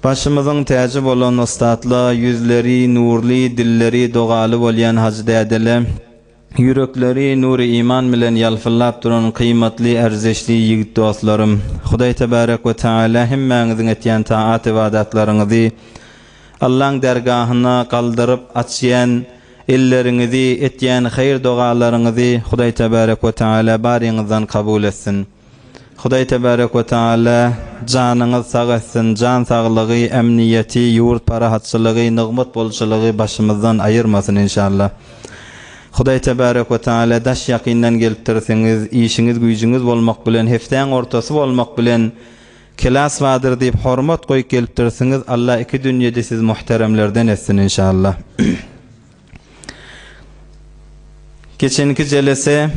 Başymyzyň täji bolan ussatla, ýüzleri nurly, dilleri dogaly bolýan hajy dädele, ýürekleri nury-iman bilen ýalpyllap duran gyýmatly, erzeşli ýigit dostlarym! Hudaý Tebärek we Tagala hemmäňiziň etýän taat-ybadatlaryňyzy Allaň dergahyna galdyryp açýan elleriňizi, etýän haýyr-dogalaryňyzy Hudaý Tebärek we Tagala baryňyzdan kabul etsin! Hudaý Tebarek we Teala janyňyz sag etsin, jan saglygy, emniýeti, ýurt parahatçylygy, nygmat bolçulygy başymyzdan aýyrmasyn inşallah. Hudaý Tebarek we Teala daş ýakyndan gelipdirsiňiz, işiňiz güýjüňiz bolmak bilen, hepdäň ortasy bolmak bilen Kelas badyr diýip hormat goýup gelipdirsiňiz, Alla iki dünýedi siz muhteremlerden etsin inşallah. Geçenki jelese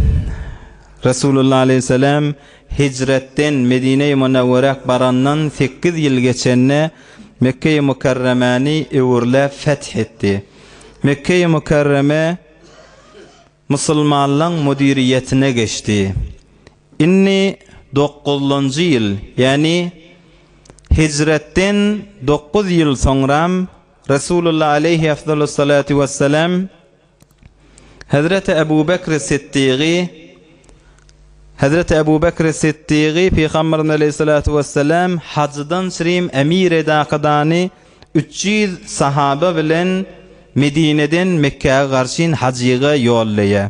Resulullah aleýhissalam hijretden Medine-i Munewwere barandan sekiz ýyl geçende Mekge-i Mukarremäni öwürläp feth etdi. Mekge-i Mukarreme Musulmanlaň müdiriýetine geçdi. Indi dokuzlanjy ýyl, ýagny hijretden dokuz ýyl soňram Resulullah aleýhi efdalus salatu wessalam Hezreti Ebu Bekri Siddigy Hezreti Ebu Bekri Siddigy Pygamberimiz aleýhi salatu wessalam hajydan çirim emir-i-dakydany Üç ýüz sahaba bilen Medineden Mekgä garşyn hajyga ýollaýa.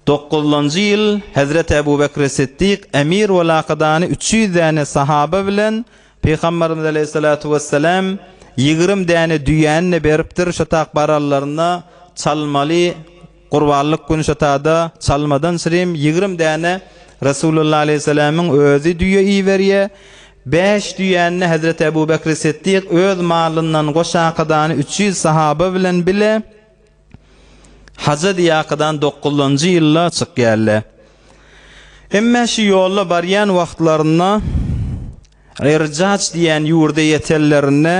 Dokuzlanjy ýyl Hezreti Ebu Bekri Siddik emir bolakydany üç ýüz däne sahaba bilen Pygambarymyz aleýhissalatu wessalam ýigrimi däne düýäni-de beripdir şotak barallaryna çalmaly Gurbanlyk güni şu tada çalmadan çirim ýigrimi däne Resulullah aleýhi selemiň özi düýe iberýä. Bäş düýäni-de Hezreti Ebu Bekri Siddik öz malyndan goşakydany üç ýüz sahaba bilen bile haja diýakydan dokuzynjy ýylda çykýarle. Emme şu ýolda barýan wagtlarynda Irjaç diýen ýurda ýetenlerinde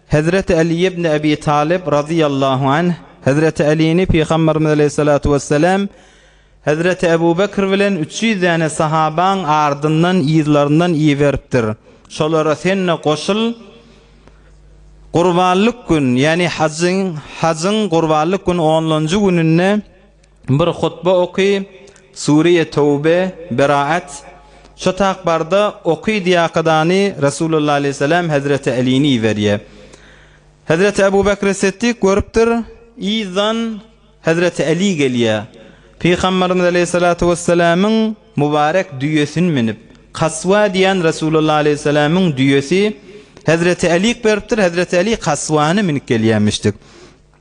Hezreti Aly ibn Abi Talyp razyýallahu anh Hezreti Alyny Pygamberimiz aleýhissalatu wessalam Hezreti Ebu Bekr bilen üç ýüz däne sahabaň ardyndan yzlaryndan iberipdir. Şolara sen-de goşul, Gurbanlyk gün, ýagny hajyň, hajyň gurbanlyk gün onlanjy gününde Bir hutba oky, Sure-i Töwbe, Beraat, Şo tak barda, oky diýakydany Resulullah aleýhissalam hezreti Alini iberýär. Hezreti Ebu Bekri Siddik görüpdir, yzdan hezreti Ali gelýär. Pygamberimiz aleýhissalatu wessalamyň mubarek düýesini münüp, Kaswa diýen Resulullah aleýhissalamyň düýesi hezreti Alik beripdir, hezreti Ali Kaswany münüp gelýämişdik.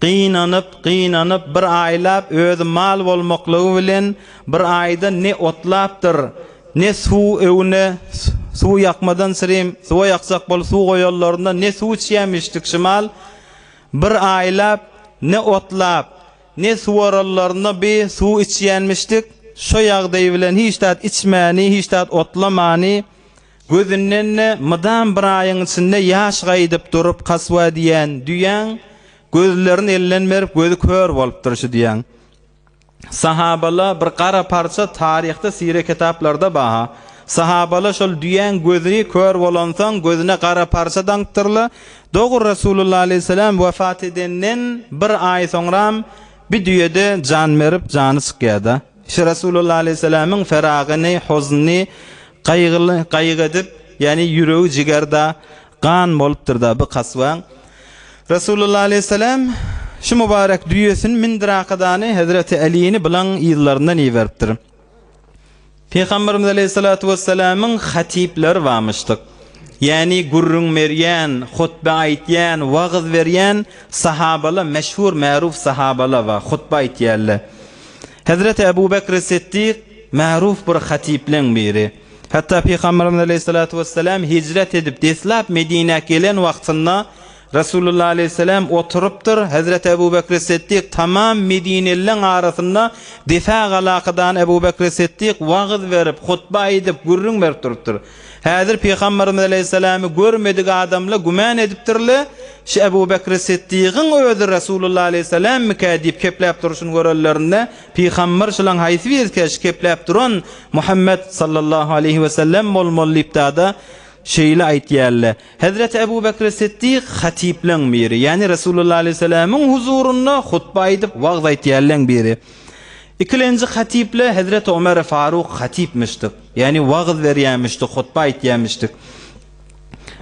Gynanyp, gynanyp bir aýlap özi mal bolmaklygy bilen bir aýda ne otlapdyr, ne suw öwne suw ýakmadan sirim suwa ýakjak bolup suw goýanlarynda ne suw içýämişdik şymal bir aýlap ne otlap, ne suwaranlarynda bi suw içýänmişdik, şo ýagdaý bilen hiç zat içmäni, hiç zat otlamany Gözünden-de mydam bir aýyň içinde ýaş gaýdyp durup kaswa diýýän düýäň, gözlerini elden berip gözi kör bolupdyr şu düýäň. Sahabala bir gara parça taryhda sire kitaplarda baha. Sahabala şol düýäň gözi kör bolansoň gözüne gara parça daňypdyrla, dogry Resulullah aleyhisselam wefat edenden bir aý soňram bi düýede jan berip jany çykýada. Şu Resulullah aleyhisselamyň feragyny, hoznyny, Gaýgyly, gaýyk edip, ýagny ýüregi jiger-da, gan bolupdyr-da bu kasbaň. Resulullah aleýhyssalam şu mübarek düýesini mindir akadany Hezreti Älini bylaň yzlaryndan iberipdir. Pygamberimiz aleýhyssalatu wessalamyň hatipleri barmyşdyk. Ýagny gürrüň berýän, hutbe aýtýan, wagyz berýän sahabala meşhur märuf sahabala bar, hutbe aýtýarlar. Hezreti Ebu Bekri Siddik magruh bir hatypleň biri. Hatda Pygamberimiz aleýhissalatu wessalam hijret edip deslap Medinä gelen wagtynda Resulullah aleýhissalam oturypdyr, Hezreti Ebu Bekri Siddik tamam medinelileň arasynda Defa galakydany Ebu Bekri Siddik wagyz berip, hutba aýdyp, gürrüň berip durupdyr. Häzir Pygamberimiz aleýhissalamy görmedik adamla güman edipdirle, şu Ebu Bekri Siddigyň özi Resulullah aleýhissalammykä diýip kepläp durşuny görenlerinde, Pygamber şulaň haýsy birisikä şu kepläp duran Muhammet sallallahu aleýhi wesellem bolmaly diýip dada şeýle aýtýarle. Hezreti Ebu Bekri Siddik hatipleň biri, ýani Resulullah aleýhissalamyň huzurynda hutba aýdyp wagz aýtýarleň biri. Ikilenji hatiple Hezreti Omeri Faruk hatipmişdik. Ýagny wagyz berýämişdi, hutba aýtýamişdi.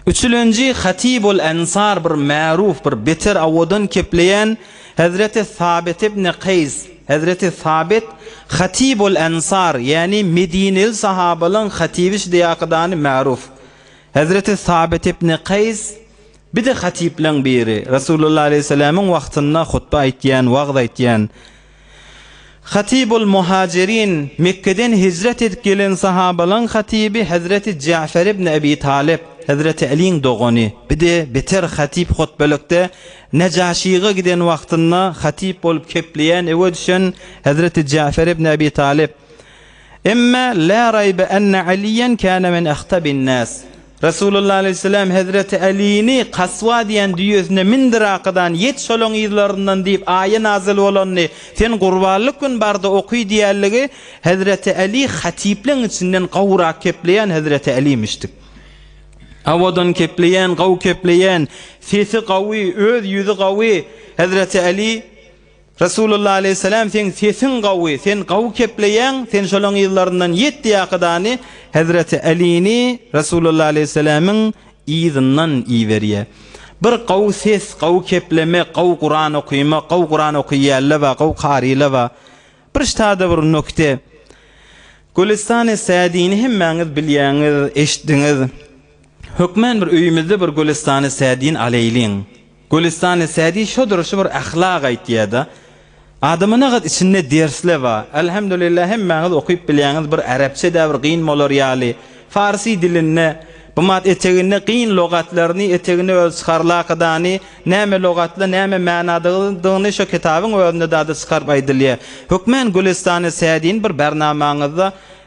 Üçülenji Hatibul Ensar bir märuf bir beter awadan kepleýän Hezreti Sabit ibn Kaýs, Hezreti Sabit Hatibul Ensar, ýagny medineli sahabalaň hatibi şdýakydany märuf. Hezreti Sabit ibn Kaýs bir-de hatibleň biri, Resulullah aleyhisselamyň wagtynda hutba aýtýan, wagyz aýtýan. Hatibul Muhajirin, Mekgeden hijret edip gelen sahabalaň hatyby Hezreti Ja'fer ibn Ebi Talyp, Hezreti Aliň dogany, bir-de beter hatip hutbelikde Nejaşyga giden wagtynda hatip bolup kepleýän ewe düşen Hezreti Ja'fer ibn Ebi Talyp. Emma la raýbe enne Aliýen kana min ahtabin nas. Resulullah aleýhissalam hezreti Älini Kaswa diýen düýesine mindir arkadan, ýet şolaň yzlaryndan diýip aýe nazyl bolandy. Sen gurbanlyk gün barda oky diýenligi hezreti Äli hatypleň içinden gowrak kepleýän hezreti Älimişdik. Awadan kepleýän, gowy kepleýän, sesi gowy, öz ýüzi gowy hezreti Äli. Resulullah aleýhissalam seň sesiň gawy, sen gawy kepleýäň, sen şolaň yzlaryndan ýet diýip hakydany Hezreti Alini Resulullah aleýhissalamyň yzyndan iberýär. Bir gawy ses, gawy kepleme, gawy Kuran okyma, gawy Kuran okyýälle ba, gawy karyla ba. Bir ştada bir nokte. Gülestani Sadini hemmäňiz bilýäňiz, eşitdiňiz. Hökmän bir öýümizde bir Gülestani Sadini aleýliň. Gülüstany Sädi şo durşy bir ahlak aýtýada, adamanagat içinde dersle ba, Alhamdulillah hemmäňiz okyp bilýäňiz bir arapçada bir gyn bolar ýaly, farsy dilinde, bmat eteginde gyn logatlaryny eteginde özi çykarlakydany, näme logatly näme mänadagydygyny şo kitabyň özünde dady çykaryp aýdylýa. Hökmän Gülüstany Sädini bir barnamaňyzda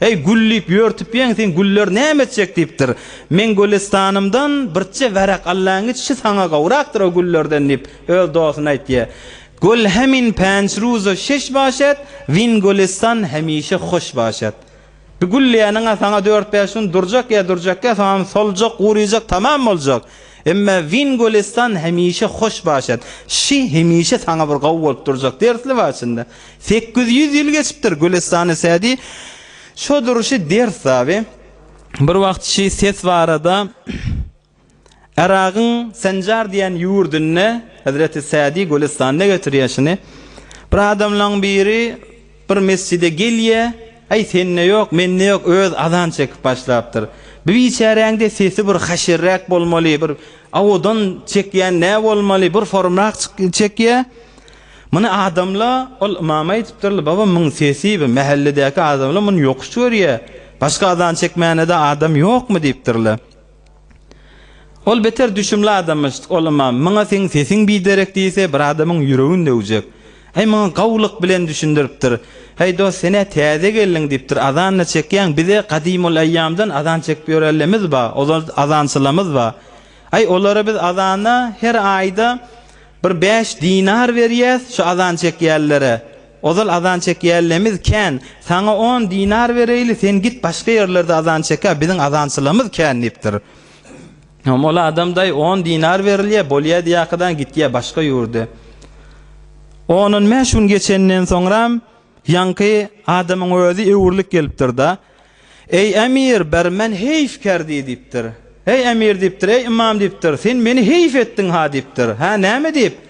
Heý, gül diýip ýörtüpýeň, seň güller näme etjek diýipdir. Meň gülüstanymdan birçe wärek allan giç, şu saňa gowrakdyr o güllerden diýip, öz dostuna aýtýa. Gül hemin pänç ruza şeş başet, win gülüstan hemişe hoş başet. Bir gülleýäniň-ä saňa dört-bäş gün durjak ýa durjakgä soňam soljak, gurujak, tamam boljak. Emma win gülüstan hemişe hoş başet. Şi hemişe saňa bir gowy bolup durjak, dersli bar içinde. Sekiz ýüz ýyl geçipdir, Gülestany Sädi şo duruşy ders taby. Bir wagt şi ses barada Yragyň Senjar diýen ýurdunda Hezreti Sädi Gülestanda getirýär şuny. Bir adamlaň biri bir mesjide gelýär, äý sende ýok, mende ýok, öz azan çekip başlapdyr. Bu biçäräňde sesi bir haşirräk bolmaly, bir awadan çekýän nä bolmaly, bir forumrak çekýär. Muny adamla, ol ymam aýdypdyrly, baba muň sesi bi mähelledäki adamla muny ýokuş görýä, başga azan çekmänede adam ýokmy diýipdirli. Ol beter düşümli adammyş, ol ymam, muňa seň sesiň biderek diýse bir adamyň ýüregin döwjek. Äý muňa gawulyk bilen düşündiripdir. Häý dost senä täze geldiň diýipdir, azanda çekýäň, bize gadymul eýýamdan azan çekip ýörenlemiz ba, ozal azançylamyz ba. Äý olara biz azana her aýda Bir bäş dinar berýäs şu azan çekýänlere. Ozal azan çekýänlemiz kän. Saňa on dinar bereýli, sen git başga ýerlerde azan çekä, biziň azançylarymyz kän diýipdir. Hom ol adam daýy on dinar berilýä, bolýä diýäkadan gitýä başga ýurda. On-on bäş gün geçenden soňram ýaňky adamyň özi öwrülip gelipdir-da. Eý, emir, bir men heýf kerdi, diýipdir. Eý, emir, diýipdir, eý, ymam, diýipdir, sen meni heýf etdiň-ha, diýipdir. Hä, näme diýip?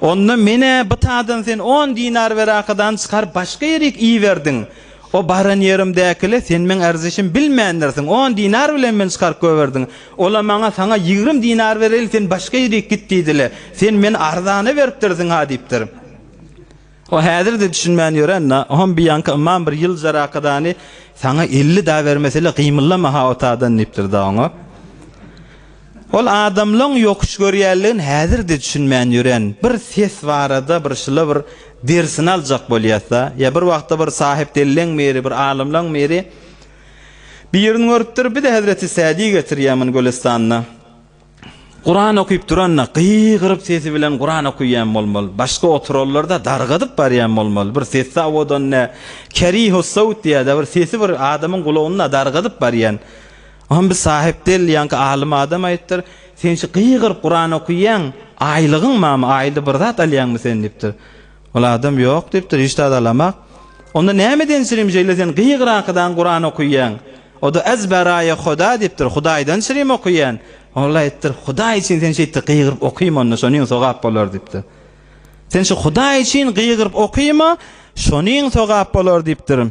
Onda men-ä bytadan sen on dinar werakadany çykaryp başga ýerik iberdiň. O baran ýerimdäkile sen meň erzişim bilmändirsiň, on dinar bilen men çykaryp goýberdiň. Ola maňa saňa ýigrimi dinar bereli sen başga ýerik git diýdile. Sen meni arzana beripdirsiň-ha, diýipdir. O häzir-de düşünmän ýören Nahum biýanka ymam bir ýyl jarakadany Saňa elli da bermesele gymyllama-ha o tadan diýipdir-de oňa. Ol adamlaň ýokuş görýänligin häzir-de düşünmän ýören bir ses barada bir şyla bir dersini aljak bolýas-da. Ýa bir wagtda bir sahypdellleň biri, bir alymlaň biri birini görüpdir, Bir-de Hezreti Sädi getirýär muny Gülüstanda. Kuran okyp duranda gygyryp sesi bilen Kuran okuyyan bolmaly başka oturanlarda dargadyp baryan bolmaly bir sesi zawodan ne kerihus sowt diýada bir sesi bir adamyň gulagynda dargadyp baryan Oňam bir sahyp del ýaňky alym adam aýypdyr sen şu gygyryp Kuran okuyyan aýlygyň mamy aýly bir zat alýaňmy sen diýipdir Ol adam ýok diýipdir, hiç zat alamak. Onda näme denşirim şeýle sen gygyrakydan Kuran okyýaň? Oda ez beraýe Hoda diýipdir, Hudaýdan şirim okyýan. Ol aýtdyr, Hudaý üçin sen şeýtde gygyryp okyma onda şonyň sogap bolar diýipdir. Sen şu Hudaý üçin gygyryp okyma şonyň sogap bolar diýipdir.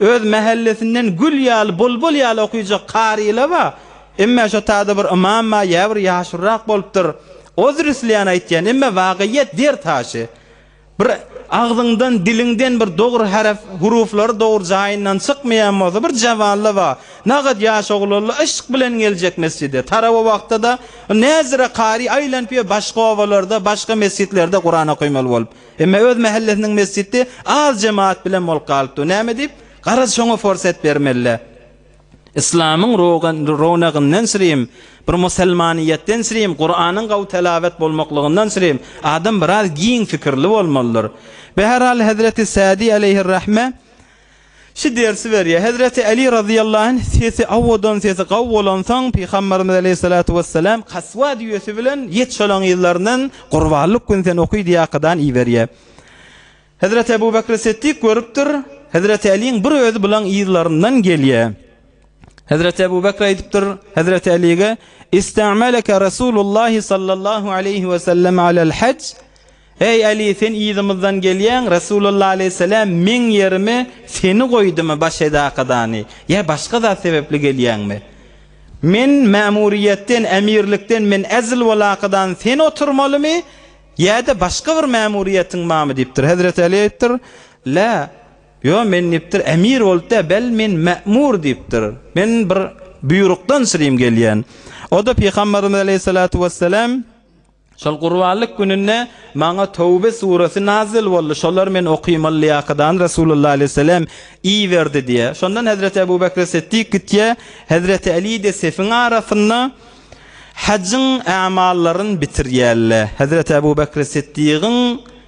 Öz mähellesinden gül ýaly, bulbul ýaly okyjak karyla-ba, emme şo tada bir ymam-a ýa bir ýaşulyrak bolupdyr. O zrisleýän aýtýan, emme wagyýet der taşy. Bir agzyňdan, diliňden bir dogry harf, huruflary dogry jaýyndan çykmaýan bolsa, bir jabanla-ba, nagat ýaş oglanla yşk bilen geljek mesjide. Tarawa wagtda-da, näzire kary aýlanyp ýör başga obalarda, başga mesjitlerde Kuran okamaly bolup. Emma öz mähellesiniň mesjidi az jemagat bilen bolup galypdy. Näme diýip? Garaz, şoňa forsat bermeli-dä. Yslamyň rownagyndan sürem, bir musulmanyýetden sürem, Kuranyň gowy telawet bolmaklygyndan sürem adam biraz giň pikirli bolmalydyr. Bäherhal, hezreti Sadi aleýhir-rahme, Şu dersi berýär. Hezreti Aly razyýallahu anh sesi awadan sesi gawy bolansoň pygambarymyz aleýhissalatu wessalam kaswa düýesi bilen ýet şolaň yzlaryndan gurbanlyk gün sen oky diýakadan iberýär. Hezreti Ebu Bekri Settik görüpdir Hezreti Alyň bir özi bulaň yzlaryndan gelýär. Hezreti Ebu Bekr aýdypdyr Hezreti Alyge, Istamalaka Rasulullah sallallahu aleýhi wesellem alel hac Eý, Äli, sen yzymyzdan gelýäň, Resulalla aleýhissalam meň ýerime seni goýdumy, baş edakodany, ýa başga zat sebäpli gelýäňmi? Men mämuriýetden, emirlikden men ezl welakadan sen oturmalymy, ýa-da başga bir mämuriýetiň barmy? diýipdir. Hezreti Äli aýdypdyr, La, ýo, men diýipdir, emir bolup däl, bel men mämur diýipdir. Men bir buýrukdan sürüm gelýän. O-da Pygamberimiz aleýhissalatu wessalam, Şol gurbanlyk gününde maňa Töwbe suresi nazil boldy. Şolar men okymaly lyýakadan Resulullah aleýhissalam iberdi diýýär. Şondan Hezreti Ebu Bekr Siddik gitýär, Hezreti Alide sefiň arasynda hajyň ämallaryny bitirýärler. Hezreti Ebu Bekr Siddigiň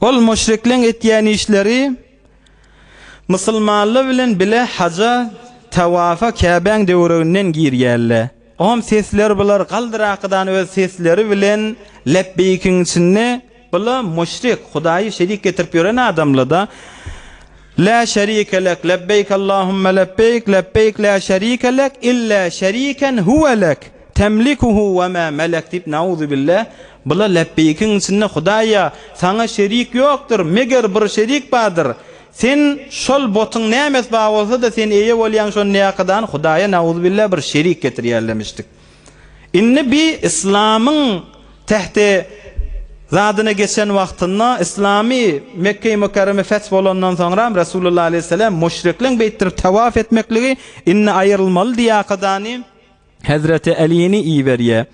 Ol müşrikleň etýän işleri musulmanlar bilen bile haja, tawafa Käbäň töwereginden girýärler. Om sesler bular galdyrakydan öz sesleri bilen lebbeýkiň içinde Bula müşrik, Hudaýy şerik getirip ýören adamlada, Lä şerike lek, lebbeýk Allahumma lebbeýk, lebbeýk lä şerike lek illa şeriken huwe lek, temlikuhu we mä melek diýip nauzubilla, bula lebbeýkiň içinde Hudaýa, saňa şerik ýokdur, meger bir şerik bardyr, sen şol botyň nämesi bar bolsa-da sen eýe bolýaň şonda ýakadany Hudaýa nauzubilla bir şerik getirýärlemişdik. Indi bi yslamyň tähti zadyna geçen wagtynda yslamy Mekgeýi Mükerreme feth bolandan soňram Resulullah aleýhisselam müşrikleň beýtdirip tawaf etmekligi indi aýrylmaly diýakadany Hezreti Älini iberýä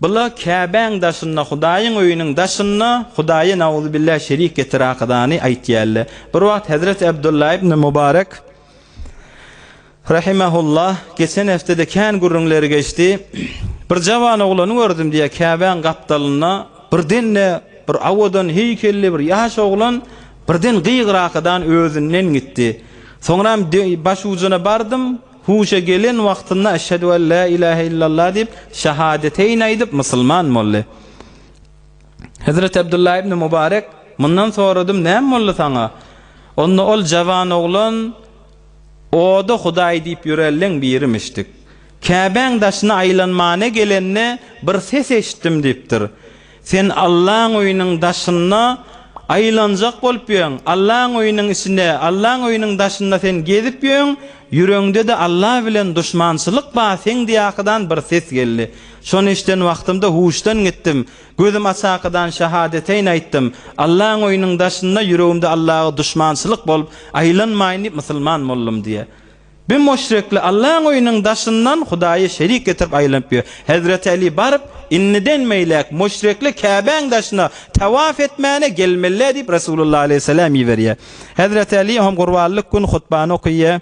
Bula Käbäň daşynda Hudaýyň öýüniň daşynda Hudaýa nauzubilla şerik getirakadany aýtýalla Bir wagt Hezreti Abdullah ibn Mubarek Rahimehullah, Geçen hepdede kän gürrüňleri geçdi. Bir jawan oglany gördüm, diýýär, Käbäň gapdalynda birden-de bir owadan heýkelli bir ýaş oglan birden gygy-rakadan özünden gitdi. Soňram başujuna bardym, huşa gelen wagtynda Eşhedü en la ilahe illallah diýip, şahadeteýni aýdyp, musulman boldy. Hezreti Abdullah ibn Mubarek mundan soradym, Näme boldy saňa? Onda ol jawan oglan. O-da Hudaý diýip ýörelleň birimişdik. Käbäň daşyna aýlanmana gelende bir ses eşitdim diýipdir. Sen Allaň öýüniň daşynda aýlanjak bolup ýöň, Allaň öýüniň içinde, Allaň öýüniň daşynda sen gezip ýöň, ýüreňde-de Alla bilen duşmançylyk ba seňdýakydan bir ses geldi. Şony eşiden wagtymda huşdan gitdim. Gözüm açakydan şahadeteýn aýtdym. Allaň öýüniň daşynda ýüregimde Allaga duşmançylyk bolup, aýlanmaýyn diýip musulman boldum diýýär. Bir müşrikli Allaň öýüniň daşyndan Hudaýa şerik getirip aýlanyp ýör. Hezreti Äli baryp, Indiden beýläk müşrikli Käbäň daşyna tawaf etmäne gelmelidä diýip Resulullah alaýhyssalam iberýär. Hezreti Äli hem gurbanlyk gün hutbany okaýar.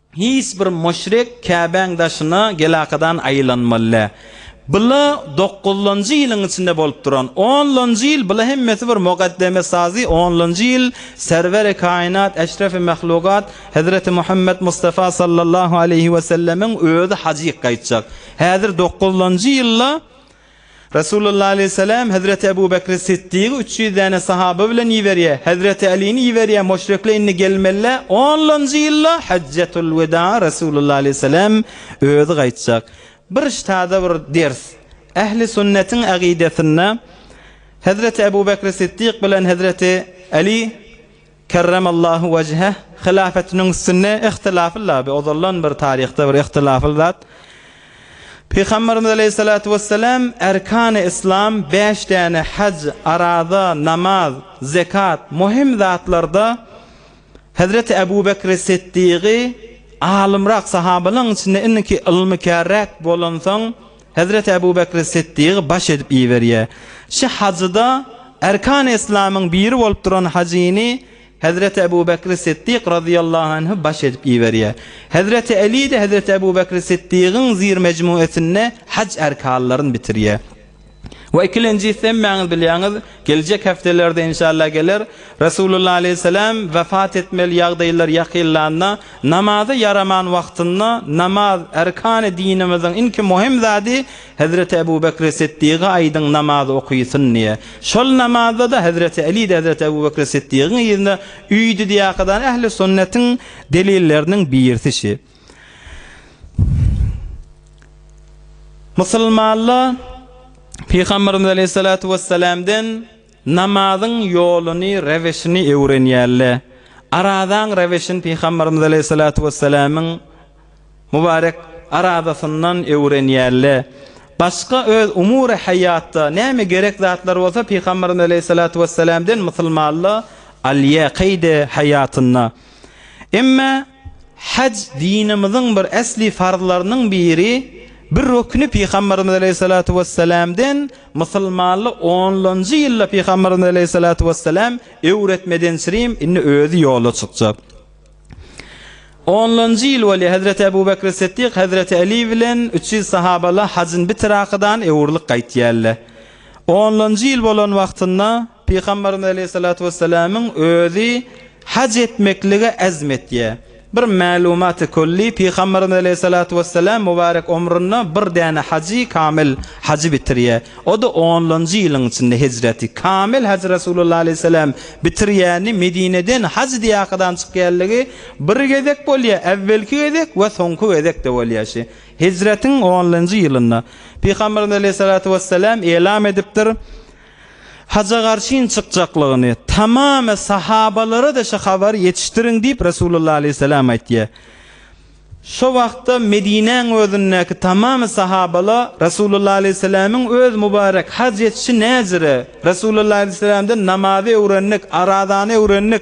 Hiç bir müşrik Käbäň daşyna gelakadan aýlanmaly. Bula dokuzlanjy ýylyň içinde bolup duran onlanjy ýyl, bula hemmesi bir mugaddeme sazy, onlanjy ýyl Serweri kainat, Eşrefi mahlugat Hezreti Muhammet Mustafa sallallahu aleýhi wesellemiň özi hajyk gaýtjak. Häzir dokuzlanjy ýylda Resulullah aleýhissalam Hezreti Ebu Bekri Siddygy üç ýüz däne sahaba bilen iberýä, Hezreti Älini iberýä, Muşrekle indi gelmeli-le, onlanjy ýylda Hajjatul Weda Resulullah aleýhissalam özi gaýtjak. Bir iş taze bir ders. Ähli sünnetiň agidesinde Hezreti Ebu Bekri Siddyk bilen Hezreti Äli. Kerremallahu wejheh hylafatynyň üstünde ihtilafly laby ozaldan bir taryhda bir ihtilafly zat. Pygamberimiz aleýhissalatu wessalam erkany islam bäş däne haj, araza, namaz, zekat muhim zatlarda Hezreti Ebu Bekri Siddigy alymrak sahabalaň içinde indiki ylmykärräk bolansoň Hezreti Ebu Bekri Siddigy baş edip iberýär. Şu hajyda Erkan-y Yslamyň biri bolup duran hajyny Hezreti Ebu Bekri Siddik razyýallahu anhy baş edip iberýär. Hezreti Eli-de Hezreti Ebu Bekri Siddigyň zir mejmuesinde haj erkanlaryn bitirýär. We ikilenjisi hemmäňiz bilýäňiz, Geljek hepdelerde inşallah geler. Resulullah aleýhissalam wepat etmeli ýagdaýlar ýakynlanda, namaza ýaraman wagtynda namaz erkany dinimiziň inki muhim zady Hezreti Ebu Bekri Siddiga aýdyň namaz okysyn diýe. Şol namazda-da Hezreti Alide Hezreti Ebu Bekri Siddigiň yzyna üýdüdýakydany ähli sünnetiň delilleriniň birisi şi. Musulmanlar Pygamberimiz Aleyhissalatu vesselamdan namazyň ýoluny, reweşini öwrenýärler. Arazaň reweşini Pygamberimiz Aleyhissalatu vesselamyň mubarek arazasyndan öwrenýärler. Başga öz umury haýatda näme gerek zatlar bolsa Pygamberimiz Aleyhissalatu vesselamdan musulmanlar alýar keýde haýatynda. Emma Haj dinimiziň bir esli farzlarynyň biri, bir rukny Pygamberimiz aleýhissalatu wesselamden musulmanly onlanjy ýylda Pygamberimiz aleýhissalatu wesselam öwretmedençirim indi özi ýola çykjak. Onlanjy ýyl bolýar Hezreti Ebu Bekri Siddik, Hezreti Eli bilen üç ýüz sahabaly hajyn bitirakadan öwrülip gaýtýarlar. Onlanjy ýyl bolan wagtynda Pygamberimiz aleýhissalatu wessalamyň özi haj etmeklige azm etýär. Bir mälumat-y külli Pygamberimiz aleýhissalatu wessalam mubarek omrunda bir däne hajy kamil hajy bitirýär. O-da onlanjy ýylyň içinde hejreti. Kamil hajy Resulullah aleýhissalam bitirýäni Medineden haj diýahydan çykýanlygy bir gezek bolýar, äwwelki gezek we soňky gezek-de bolýar. Hijretiň onlynjy ýylynda, Pygamberimiz aleýhissalatu wessalam elam edipdir, Haja garşyn çykjaklygyny, tamamy sahabalara-da şo habary ýetişdiriň diýip Resulullah aleýhissalam aýtýar. Şo wagtda Medinäň özündäki tamamy sahabala Resulullah aleýhissalamyň öz mubarek haj etişi näzire, Resulullah aleýhissalamdan namazy öwrendik, arazany öwrendik,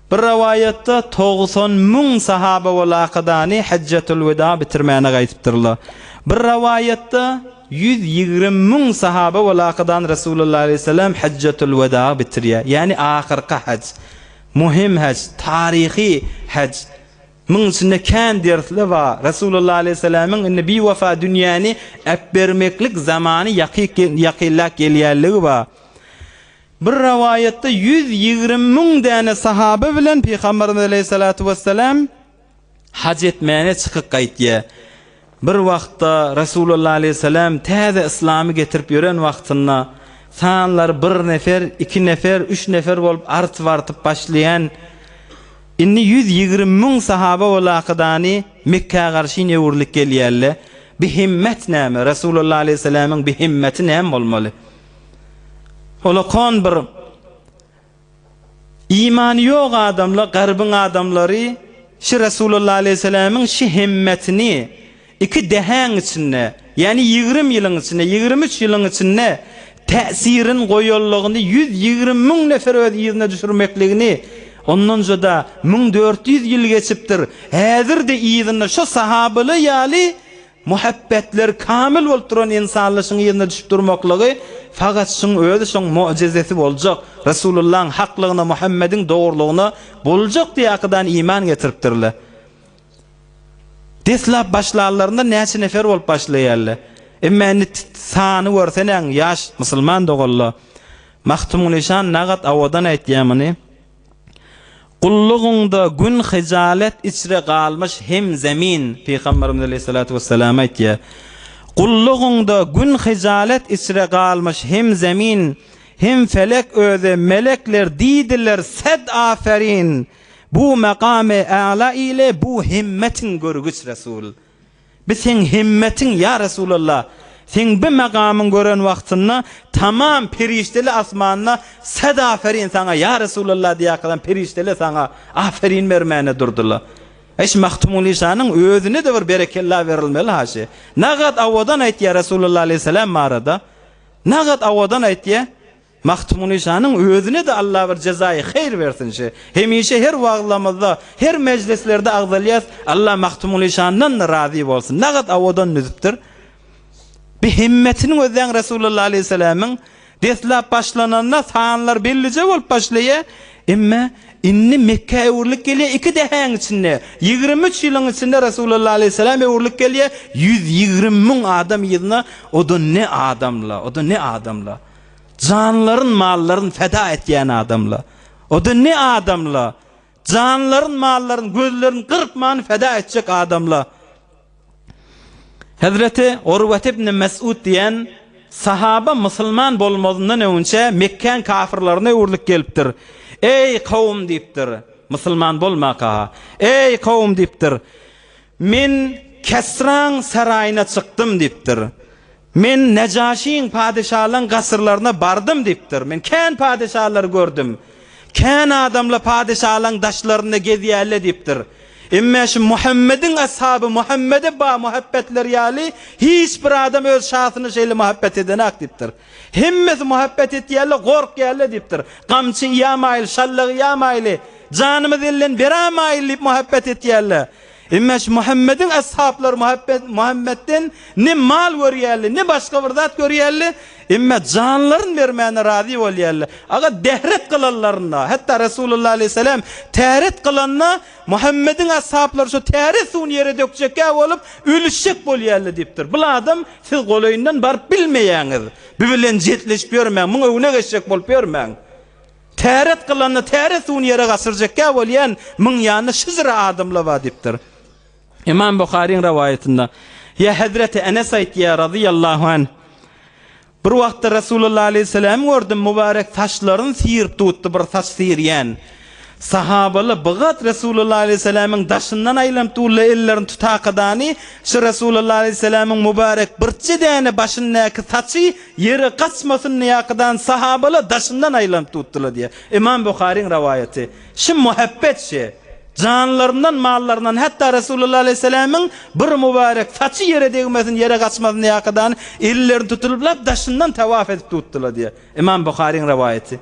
Bir rowaýatda togsan müň sahaba ol Akydany Hajjatulwida bitirmäne gaýdypdyrlar. Bir rowaýatda ýüz ýigrimi müň sahaba ol Akydany Resulullah aleýhissalam Hajjatulwida bitirýär, ýagny ahyrky haj, muhim haj, taryhy haj. Muň içinde kän dersler bar. Resulullah aleýhissalamyň indi biwepa dünýäni äpbermeklik zamany ýakynlap gelýänligi bar. Bir rowaýatda ýüz ýigrimi müň däne sahaba bilen Pygamberimiz aleýhissalatu wessalam haj etmäge çykyp gaýtýar. Bir wagtda Resulullah aleýhissalam täze yslamy getirip ýören wagtynda sanlary bir nefer, iki nefer, üç nefer bolup artyp-artyp başlaýan indi ýüz ýigrimi müň sahaba walakydaany Mekgä garşyn öwrülip gelýärler. Bi himmet näme? Resulullah aleýhissalamyň bi himmeti näme bolmaly? Olakon bir Imany ýok adamla garbyň adamlary şi Resulullah aleyhissalamiň şi hemmetini iki dehäň içinde ýani ýigrim ýylyň içinde ýigrim üç ýylyň içinde täsirin goýanlygyny ýüz ýigrim müň nefer öz yzyna düşürmekligini ondanja-da müň dört ýüz ýyl geçipdir häzir-de yzynda şo sahabyly ýaly Muhabbetler kamyl bolup duran insanlyşyň yzyna düşüp durmaklygy fakat şuň özi şoň mojizesi boljak, Resulullahyň haklygyna, Muhammediň dogrulygyna boljak diye akydan iman getiripdirler. Deslap başlanlarynda näçe nefer bolup başlaýarlar. Emma indi sany görsenäň ýaş musulman doganlar. Magtymgulyşan nagat awadan aýtýar muny. Gullugyňda gün hyjalet içre galmyş hem zemin, Pygamberimiz aleýhissalatu wessalam aýtýar, Gullugyňda gün hyjalet içre galmyş hem zemin, hem felek özi, melekler diýdiler, Sed aferin! Bu makamy ala ile bu himmetiň görgüç Resul. Biz seň himmetin, ýa Resulallah, seň bi magamyň gören wagtynda tamam perişdeli asmanda sad aferin saňa, ýa Resulallah diýýäkadam perişdeli saňa aferin bermäne durdylar. Eý şu Mahtumulişanyň özüne-de bir berekella berilmeli ha şi. Nagat awadan aýtýa Resulallah aleýhissalam barada. Nagat awadan aýtýa. Magtymguly şanyň özüne-de Allah bir jezaýy heýr bersin şi. Hemişe her wagyzlamyzda, her mejlislerde agzalýas, Allah Magtymguly şandan-da razy bolsun. Nagat awadan düzüpdir. Bi hemmetiniň özäň Resulullah aleýhissalamyň deslap başlananda sanlar bellije bolup başlaýa, emme indi Mekgä öwrülip gelýä iki dähäň içinde, ýigrimi üç ýylyň içinde Resulullah aleýhissalam öwrülip gelýä, ýüz ýigrimi müň adam yzyna, o-da ne adamla, o-da ne adamla. Janlaryn mallaryn feda etýän adamla o da ne adamla janlaryn mallaryn gözlerin gyrpman feda etjek adamla Hezreti Orwat ibn Mes'ud diýen sahaba musulman bolmazyndan öňçe Mekkäň kafirlerine öwrülip gelipdir. Eý kowum diýipdir. Musulman bolmaka. Eý kowum diýipdir. Men Kesraň saraýyna çykdym diýipdir. Men Nejaşyň, padeşalaň gasyrlaryna bardym diýipdir. Men kän padeşalary gördüm. Kän adamla padeşalaň daşlarynda gezýärle diýipdir. Emmä şu Muhammediň ashaby Muhammede ba muhabbetleri ýaly hiç bir adam öz şasyna şeýle muhabbet edenak diýipdir. Hemmesi muhabbet etýärle, gorkýärle diýipdir. Gamçy iýämaýyl, şallagy iýämaýyly, janymyzy elden berämaýyl diýip muhabbet etýärle. Emma şu Muhammediň ashaplary Muhammedden ne mal görýärler, ne başga bir zat görýärler, emma janlaryny bermäne razy bolýarlar. Aga dehret kylanlarynda, hatda Resulullah aleýhissalam täret kylanda, Muhammediň ashaplary şu täret suwuny ýere dökjekkä bolup, ölüşjek bolýarlar diýipdir. Bul adam siz golaýyndan baryp bilmeýäňiz. Bu bilen jetleşip ýörmäň, muň öňüne geçjek bolup ýörmäň. Täret kylanda täret suwuny ýere gaçyrjakka bolýan müň ýany şyjra adamla bar diýipdir. Ymam Buharyň rawaýatynda, Ýa Hezreti Enes aýtýar, razyýallahu anh, Bir wagtda Resulullah aleýhissalamy gördüm, mübarek saçlaryny syýryp tutdy, bir saç syýrýan. Sahabaly bigat Resulullah aleýhissalamyň daşyndan aýlanyp durla ellerini tutakadany, şu Resulullah aleýhissalamyň mübarek birje däne başyndaky saçy Ýere gaçmasyn niýakydan sahabalar daşyndan aýlanyp tutdylar diýýär. Ymam Buharyň rowaýaty. Şu muhabbet şe. Janlaryndan, mallaryndan, hatda Resulullah alaýhyssalamyň bir mubarek saçy ýere degmesin, ýere gaçmasyn niýakydan ellerini tutulyp lap daşyndan tawaf edip tutdylar diýýär. Ymam Buharyň rowaýaty.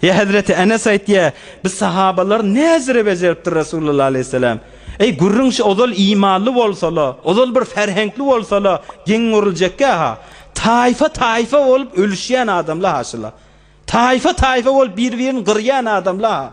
Ýa Hezreti Enes aýtýar, biz sahabalar näzire bejeripdir Resulullah aleýhissalam. Eý, gürrüň şu ozal imanly bolsala, ozal bir ferheňkli bolsala, geň görüljekkä-ha. Taýfa-taýfa bolup ölüşýän adamla-ha şula. Taýfa-taýfa bolup bir-birini gyrýan adamla-ha.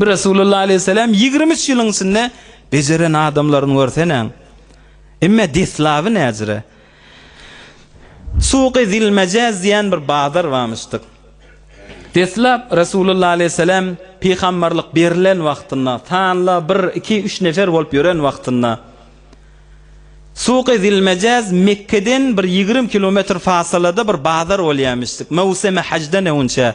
Bir Resulullah aleýhissalam ýigrimi üç ýylyň içinde bejeren adamlaryny görseneň. Emme deslaby näzire. Suky Zilmejez diýen bir bazar barmyşdyk. Deslap Resulullah aleýhissalam pygamberlik berilen wagtynda, sanla bir, iki, üç nefer bolup ýören wagtynda. Suky Zilmejez Mekgeden bir ýigrimi kilometr fasalada bir bazar bolýarmyşdyk. Möwsimi hajdan öňünçä.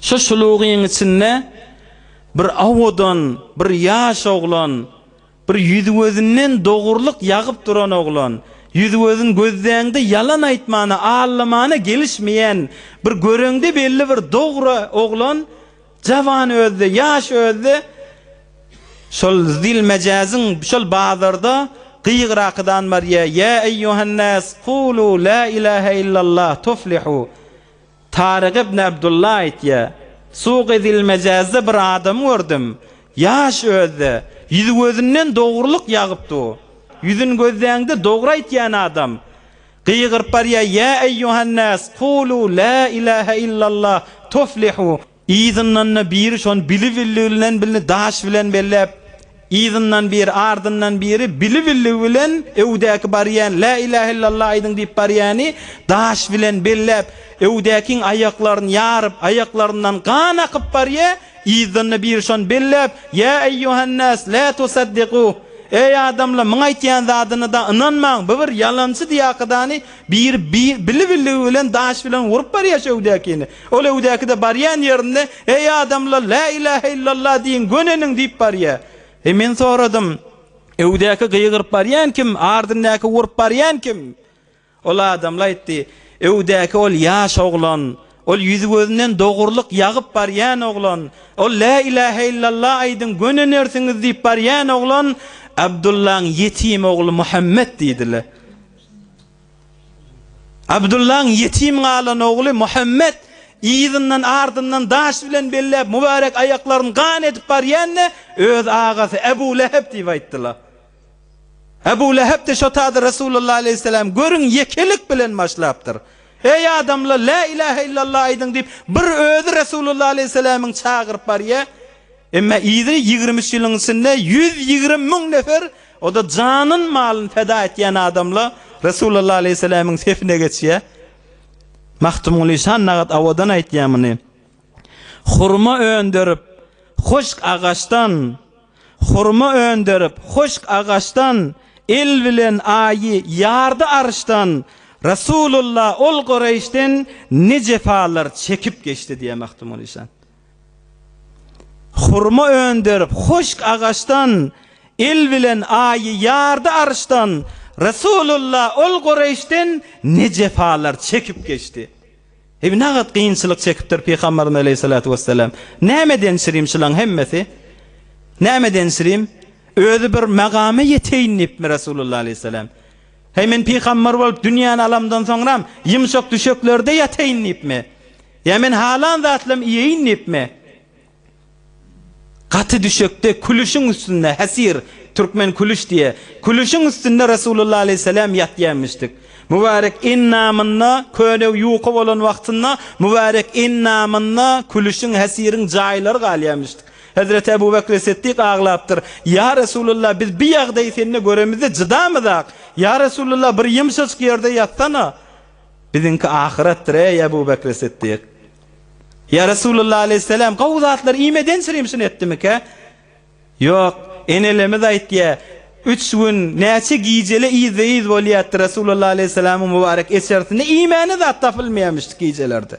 Şu şulugyň içinde bir owadan, bir ýaş oglan, bir ýüzi-gözünden dogrulyk ýagyp duran oglan, ýüzi-gözün gözläňde ýalan aýtmana, aldamana gelişmeýän, bir göreňde belli bir dogry oglan, jawan özi-de, ýaş özi-de şol zil-mejazyň, şol bazarda gygyrakydan barýar, Ýa eýýuhan-nas, kulu la ilahe illallah, tuflihu. Tarik ibn Abdullah aýtýar, Suk edilmejazda bir adamy gördüm, ýaş özde, ýüzi-gözünden dogrulyk ýagyp dur. Ýüzün gözläňde dogry aýtýan adam, gygyryp barýar, Ýa eýýuhan nas, kulu, la ilahe illallah, tuflihu! Yzyndan-da biri şony bili-billigi bilen bilini daş bilen belläp, yzyndan biri, ardyndan biri bili-billigi bilen öwdäki barýan, Lä ilähe illallah aýdyň diýip barýany daş bilen belläp, öwdäkiň aýaklaryny ýaryp, aýaklaryndan gan akyp barýa, yzdan-da biri şony belläp, Ýa eýýuhannas, lä tusaddigu, Eý adamlar, muň aýtýan zadyna-da ynanmaň, bu bir ýalançydy ýakydany, Biri bili billigi bilen daş bilen urup barýar şu öwdäkini. Ol öwdäki-de barýan ýerinde, Eý, adamlar, lä ilähe illallah diýiň, göneniň diýip barýar. He, men soradym, Öwdäki gygyryp barýan kim, ardyndaky urup barýan kim? Ol adamlar aýtdy, Öwdäki ol ýaş oglan, ol ýüzi-gözünden dogrulyk ýagyp barýan oglan, ol lä ilähe illallah aýdyň, gönenersiňiz diýip barýan oglan Abdullaň ýetim ogly Muhammet diýdiler. Abdullaň ýetim galan ogly Muhammet yzyndan, ardyndan daş bilen belläp, mübärek aýaklaryny gan edip barýanda, öz agasy Ebu Lehep diýip aýtdylar. Ebu Lehep-de şo taýda Resulullah aleýhisselämi görüň ýekelik bilen başlapdyr. Eý, adamlar, lä ilähe illallah aýdyň diýip, bir özi Resulullah aleýhisselämiň çagyryp barýar. Emma yzy ýigrimi üç ýylyň içinde ýüz ýigrimi müň nefer, o-da janyn, malyn feda etýän adamla Resulalla aleýhissalamiň sefine geçýär. Magtymguly Şannagat owadan aýtýar muny. Hurma öndürip, hoşk agaçdan, Hurma öndürip, hoşk agaçdan, El bilen aýy ýardy arşdan, Resulalla ol Gureýşden ne jepalar çekip geçdi diýýär Magtymguly Şan. Hurma öndürip, huşk agaçdan, Il bilen aýy ýardy arşdan, Resulullah ol Gureýşden Ne jepalar çekip geçdi. Eý, nagat kynçylyk çekipdir Pygamberimiz aleýhissalatu wessalam. Näme denşirim şulaň hemmesi? Näme denşirim? Özi bir magama ýeteýin diýipmi Resulullah aleýhissalam? Heý, men pygamber bolup dünýäni alamdan soňram, ýumşak düşeklerde ýataýyn diýipmi? Ýa men halan zatlam iýeýin diýipmi? Gaty düşekde, külüşiň üstünde, hesir, türkmen külüş diýýä, külüşiň üstünde Resulullah aleýhissalam ýatýamyşdyk. Mübärek endamynda, köne ýuka bolan wagtynda, mübärek endamynda külüşiň, hesiriň jaýlary galýamyşdyk. Hezreti Ebu Bekri Setdik aglapdyr, Ýa Resulullah, biz bi ýagdaýy sende göremizde jydamyzak. Ýa Resulullah, bir ýymşajyk ýerde ýatsana! Biziňki ahyretdir, eý, Ebu Bekri Siddik! Ýa Resulallah aleýhisselam, gowy zatlar iýmeden şirimşin etdimikä? Ýok, enelemiz aýtýar, Üç gün, näçe gijele yzda-yz bolýardy, Resulallah aleýhisselamyň mubarek eçerisinde iýmäne zat tapylmaýarmyşdy gijelerde.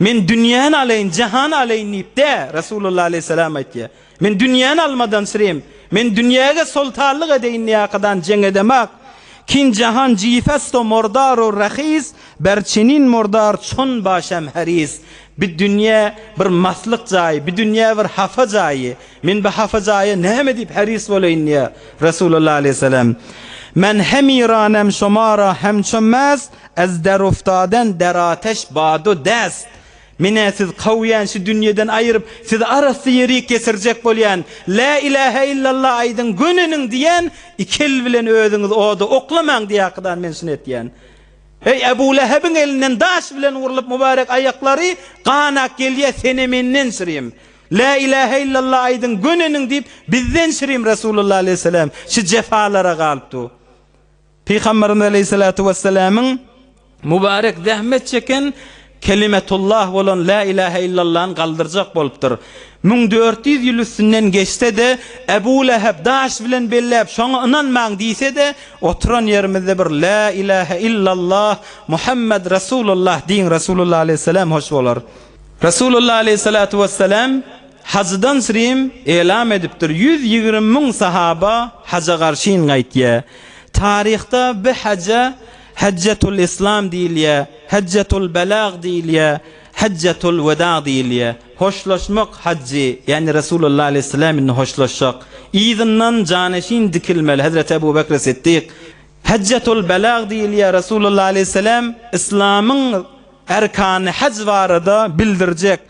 Men dünýäni alaýyn, jahany alaýyn diýip dä, Resulullah aleýhissalam aýtýar. Men dünýäni almadan sürem, men dünýäge soltanlyk edeýin diýäkadany jeň edemak, kin jahan jifasto mordaru rahis, ber çenin mordar çon başam haris. Bi dünýä bir maslyk jaý, bi dünýä bir hapa jaýy. Men bi hapa jaýa näme diýip haris bolaýyn diýýär, Resulullah aleýhissalam. Men hemiranam şomara hem çömmäz, As daruftadan dar ataş badu dast, Men-ä siz kawýan şu dünýeden aýyryp, sizi arasy ýerik ýetirjek bolýan. Lä ilähä illalla aýdyň, göneniň diýen, iki el bilen özüňizi oda oklamaň diýäkydan men şuny etýän. Heý, Ebu Lähebiň elinden daş bilen urlup mubarek aýaklary gan ak gelýä, sen-ä menden şirim. Lä ilähä illalla aýdyň, göneniň diýip, bizden şirim Resulullah aleýhissalam şu jefalara galypdu. Pygamberimiz aleýhisalatu wessalamyň mubarek zähmet çeken kelimetullah bolan La ilahe illallahyny galdyrjak bolupdyr. Müň dört ýüz ýyl üstünden geçse-de, Ebu Lehep daş bilen belläp şoňa ynanmaň diýse-de, oturan ýerimizde bir La ilahe illallah Muhammed Resulullah diýiň Resulullah aleýhissalam hoş bolar. Resulullah aleýhisalatu wessalam Hajydan srim elam edipdir ýüz ýigrimi müň sahaba haja garşyn gaýtýa. Taryhda bi haja Hajjatul Islam diýilýä, Hajjatul Belag diýilýä, Hajjatul Weda diýilýä. Hoşlaşmak hajy, ýagny Resulullah Aleyhisselam indi hoşlaşjak. Yzyndan janeşin dikilmeli Hezreti Ebu Bekri Siddik. Hajjatul Belag diýilýä, Resulullah Aleyhisselam Islamyň erkany haj barada bildirjek.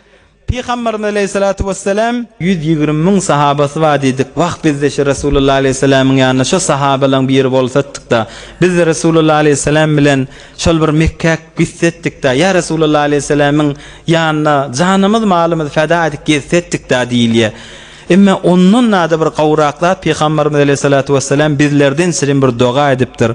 Pygamberimiz aleýhissalatu wesselam, Ýüz ýigrimi müň sahabasy bar diýdik. Wah, biz-de şu Resulullah aleýhissalamyň ýanynda şo sahabalaryň biri bolsatdyk-da! Biz-de Resulullah aleýhissalam bilen şol bir Mekgäk gitsetdik-da! Ýa Resulullah aleýhissalamyň ýanynda janymyz, malymyz feda edip gezsetdik-da! diýilýär. Emma ondan-da bir gowraklap Pygamberimiz aleýhissalatu wesselam bizlerden şirin bir doga edipdir,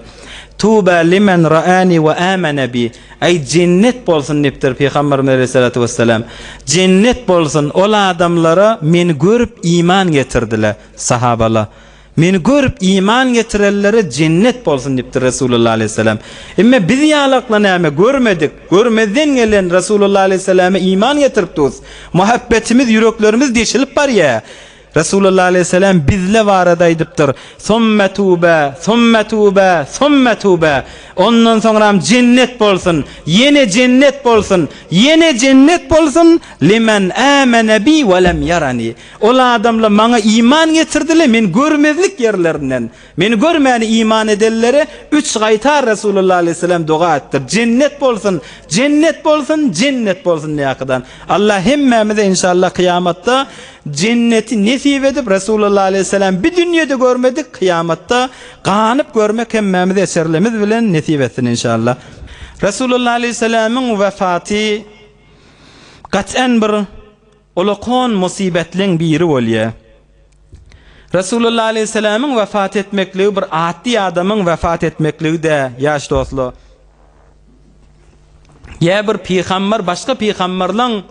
Tuba limen ra'ani we amana bi. Aý jennet bolsun dipdir Pygamberimiz aleýhissalatu wessalam, Jennet bolsun ol adamlara meni görüp iman getirdiler, sahabala, Meni görüp iman getirenlere jennet bolsun dipdir Resulullah aleýhissalam. Emme biz ýalakla näme görmedik, görmezden gelen Resulullah aleýhissalama iman getiripdus, muhabbetimiz ýüreklerimiz deşilip barýa. Resulullah aleýhissalam bizle barada aýdypdyr, Summa tüwbe, summa tüwbe, summa tüwbe, ondan soňram jennet bolsun, ýene jennet bolsun, ýene jennet bolsun, limen amene bi we lem ýarani, ol adamla maňa iman getirdi-le, men görmezlik ýerlerinden, Meni görmäni iman edenlere üç gaýta Resulullah aleyhisselam doga etdir, Jennet bolsun, jennet bolsun, jennet bolsun diýäkidan. Allah hemmämize inşallah kyýamatda jenneti nesip edip Resulullah aleyhisselam bi dünýede görmedik kyýamatda ganyp görmek hemmämize eserlimiz bilen nesip etsin inşallah. Resulullah aleyhisselamyň wefaty gat'en bir Uly on musybetleň biri bolýar. Resulullah aleýhissalamyň wepat etmekligi bir atdy adamyň wepat etmekligi däl, ýaş dostlar. Ýa bir pygamber başga pygamberleň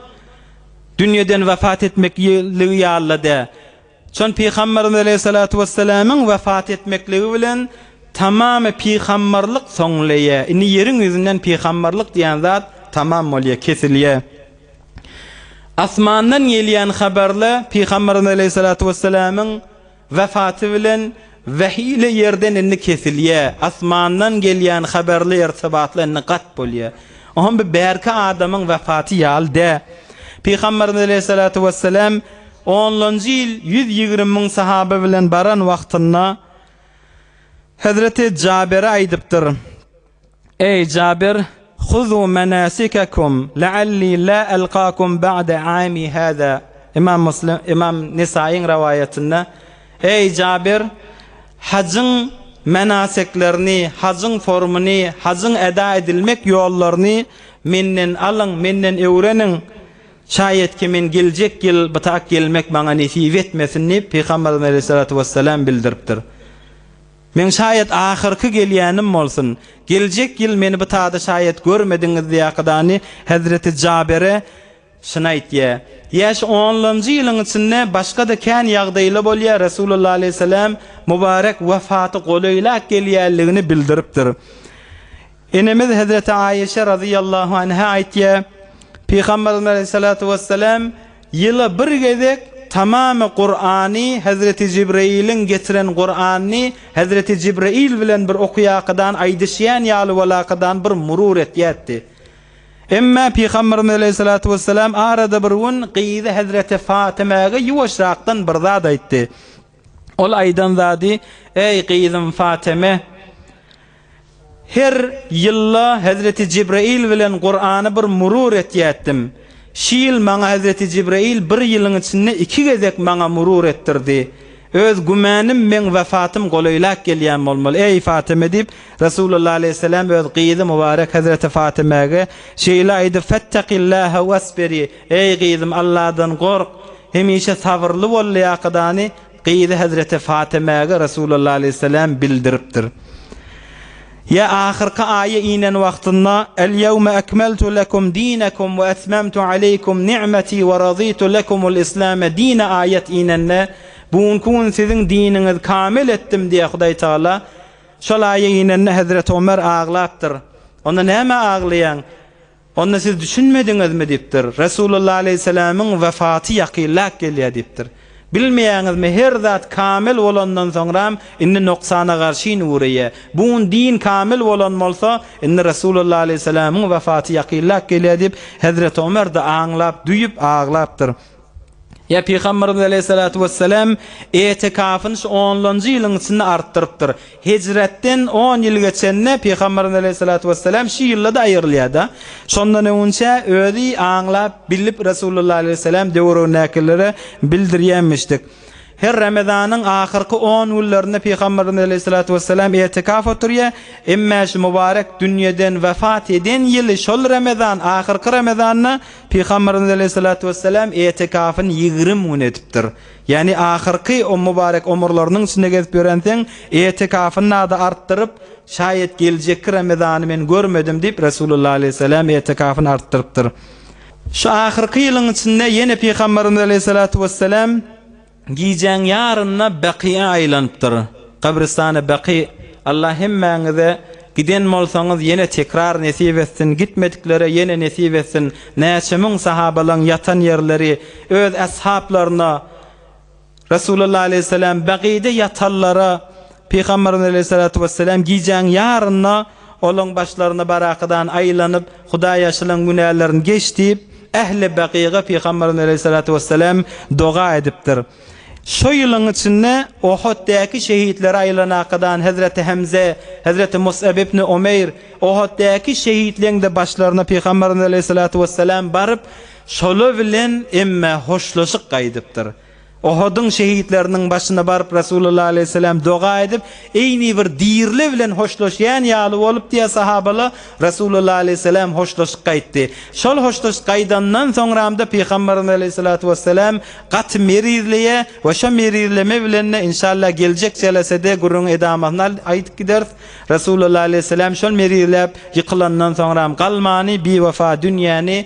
dünýeden wepat etmekligi ýaly-da däl. Çün Pygamberimiz aleýhissalatu wessalamyň wepat etmekligi bilen tamamy pygamberlik soňlaýa. Indi ýeriň ýüzünden pygamberlik diýen zat tamam bolýa, kesilýä. Asmandan gelýän habarla Pygamberimiz aleýhissalatu wessalamyň wepaty bilen Wähi ile ýerden indi kesilýä, asmandan gelýän haberli ertebatly indi gat bolýa. O hem bir bärki adamyň wepaty ýaly dä. Pygamberimiz aleýhissalatu wessalam onlanjy ýyl ýüz ýigrimi müň sahaba bilen baran wagtynda Hezreti Jabere aýdypdyr. Eý, Jabir, Huzu menasikekum la'alli la alqakum ba'de ami haza, Imam Muslim, Imam Nesaýyň rowaýatynda, Eý, Jabir, hajyň menaseklerini, hajyň formuny, hajyň eda edilmek ýollaryny menden alyň, menden öwreniň, şaýatki men geljek ýyl bitak gelmek maňa nesip etmesin diýip, Pygamberimiz aleýhissalatu wessalam bildiripdir. Men şaýat ahyrky gelýänim bolsun, geljek ýyl meni bu tada şaýat görmediňiz diýýäkadany hezreti Jabere şyny aýtýa. Ýaşy onlanjy ýylyň içinde başga-da kän ýagdaýla bolýa, Resulullah aleýhisselam mübarek wefaty golaýlak gelýänligini bildiripdir. Enemiz hezreti Aişe razyýallahu anha aýtýa, Pygamberimiz aleýhissalatu wessalam ýyla bir gezek tamamy Kurany hezreti Jibreiliň getiren Kuranyny hezreti Jibreil bilen bir okuýakydan aýdyşýan ýaly bolakydan bir murur etýätdi. Emma Pygamberimiz aleýhissalatu wessalam arada bir gün gyzy hezreti Fatymäge ýuwaşrakdan bir zat aýtdy. Ol aýdan zady, Eý, gyzym Fateme! Her ýyl-la hezreti Jibraýyl bilen Kurany bir murur etýätdim. Şi ýyl maňa hezreti Jibraýyl bir ýylyň içinde iki gezek maňa murur etdirdi. Öz gümänim, meň wefatym golaýlap gelýän bolmaly, eý, Fateme! diýip, Resulullah aleýhisselam öz gyzy mubarek hezreti Fatemäge şeýle aýdyp, Fettakillâhe wasbiri! Eý, gyzym, Alladan gork! Hemişe sabyrly bol lyakydany gyzy hezreti Fatemäge Resulallah aleýhissalam bildiripdir. Ýa ahyrky aýa inen wagtynda, El ýewme ekmeltu lekum dinekum we etmemtu aleýkum nimeti we radytu lekumul islame dine aýat inende, Bu günki gün siziň diniňizi kamil etdim diýýär Hudaý Tagala. Şol aýa inende hezreti Omer aglapdyr. Onda nämä aglaýaň? Onda siz düşünmediňizmi? diýipdir. Resulullah aleýhissalamyň wefaty ýakynläp gelýär diýipdir. Bilmeýäňizmi, her zat kamil bolandan soňram, indi noksana garşyn ugraýar. Bu gün din kamil bolan bolsa, indi Resulullah aleýhissalamyň wefaty ýakynläp gelýär diýip, hezreti Omer-de aňlap, düýüp aglapdyr. Ýa Pygamberimiz aleýhissalatu wessalam etikafyny şu onlanjy ýylyň içinde artdyrypdyr. Hijretden on ýyl geçende Pygamberimiz aleýhissalatu wessalam şu ýylda-da aýrylýar-da. Şondan öňünçä özi aňlap, bilip Resulullah aleýhissalam döwregindäkilere bildirýänmişdik. Her Ramazanyň ahyrky on günlerinde Pygamberimiz aleýhissalatu wessalam etikaf oturýar. Emma şu mubarek dünýeden wepat eden ýyly şol Ramazan, ahyrky Ramazanda Pygamberimiz aleýhissalatu wessalam etikafyn ýigrimi gün edipdir. Ýagny ahyrky o mubarek omurlarynyň içinde gezip ýörenseň, etikafyny nada artdyryp, şaýat geljekki Ramazany men görmedim diýip Resulullah aleýhissalam etikafyny artdyrypdyr. Şu ahyrky ýylyň içinde ýene Pygamberimiz aleýhissalatu wessalam, Gijäň ýaryna Bakyýa aýlanypdyr. Gabristany Baky Allah hemmäňize giden bolsaňyz ýene tekrar nesip etsin, gitmediklere ýene nesip etsin, näçe müň sahabalaň ýatan ýerleri öz ashaplaryna Resulullah aleyhisselam Bakyýda ýatanlara Pygamberimiz aleyhissalatu wesselam gijäň ýaryna Olaň başlaryna barakydan aýlanyp, Hudaý ýaşylaň günälerini geç diýip, ähli Bakyga Pygamberimiz aleýhissalatu wessalam doga edipdir. Şo ýylyň içinde Ohoddäki şehitleri aýlanakadan Hezreti Hemze, Hezreti Mus'ab ibni Umeýr, Ohoddäki şehitleňde başlaryna Pygamberimiz aleýhissalatu wessalam baryp, şola bilen emme hoşlaşyk gaýdypdyr. Ohudyň şehitleriniň başyna baryp Resulullah aleýhissalam doga edip, eýni bir dirili bilen hoşlaşýan ýaly bolup diýýär sahabala Resulullah aleýhissalam hoşlaşyp gaýtdy. Şol hoşlaşyp gaýdandan soňramda Pygamberimiz aleýhissalatu wessalam gaty merizleýär we şo merizleme bilende inşallah geljek jelesede gürrüňi edamasyny aýdyp gideris Resulullah aleýhissalam şol merizläp ýykylandan soňram galmany biwefa dünýäni